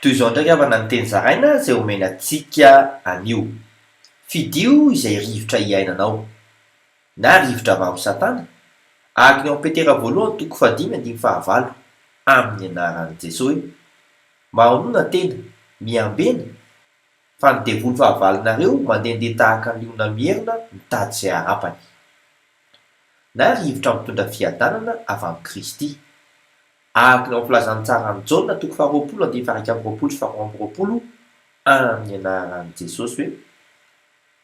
Toy izao indray havana ny teny zaraina izay omena antsika anio, Fidio izay rivotra iainanao, na rivotra avy amin'i Satana, araka ny ao amin'ny Petera voalohany toko fahadimy andininy fahavalo, amin'ny anaran'i Jesoy. Mahonona tena, miambena, fa ny devoly fahavalonareo mandehandeha tahaka ny liona mierona mitady izay harapany. Na rivotra mitondra fiadanana avy amin'i Kristy. Araka ny ao amin'ny filazan'ny tsaran'i Jaona toko faharoapolo andininy faha-iraika amby roapolo sy faharoa amby roapolo, amin'ny anaran'i Jesosy hoe,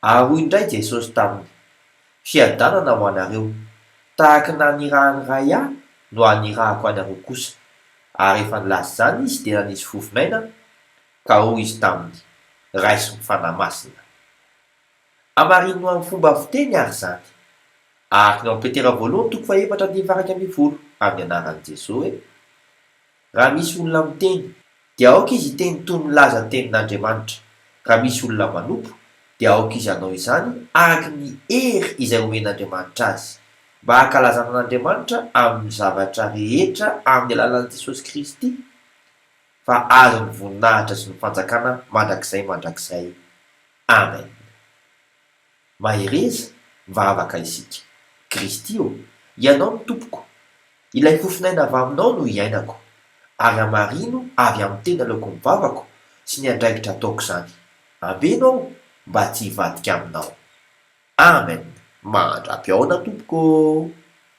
Ary hoy indray Jesosy taminy, Fiadanana ho anareo, tahaka ny nanirahan'ny Ray Ahy no hanirahako anareo kosa. Ary rehefa nilaza izany Izy dia nanisy vovin'aina, ka hoy Izy taminy, Raiso ny Fanahy Masina. Hamarino amin'ny fomba fiteny àry izany. Ahakana ao Petera voalohany toko fahefatra andininy faharaika ambin'ny folo, amin'ny anaran'i Jesoa hoe, Raha misy olona miteny, dia aoka izy hiteny toy ny milaza ny tenin'Andriamanitra. Raha misy olona manompo, dia aoka izy hanao izany araka ny hery izay omen'Andriamanitra azy, mba hankalazana an'Andriamanitra amin'ny zavatra rehetra amin'ny alalan'i Jesosy Kristy, fa azy ny voninahitra sy ny fanjakana mandrakizay mandrakizay. Amen. Mahereza mivavaka isika. Kristy ô, Ianao no Tompoko. Ilay fofon'aina avy Aminao no iainako, ary hamarino avy amin'ny teny aleoko ny vavako sy ny andraikitra ataoko izany. Ambeno aho mba tsy hivadika Aminao. Amen. Mandra-pihaona Tompoko ô.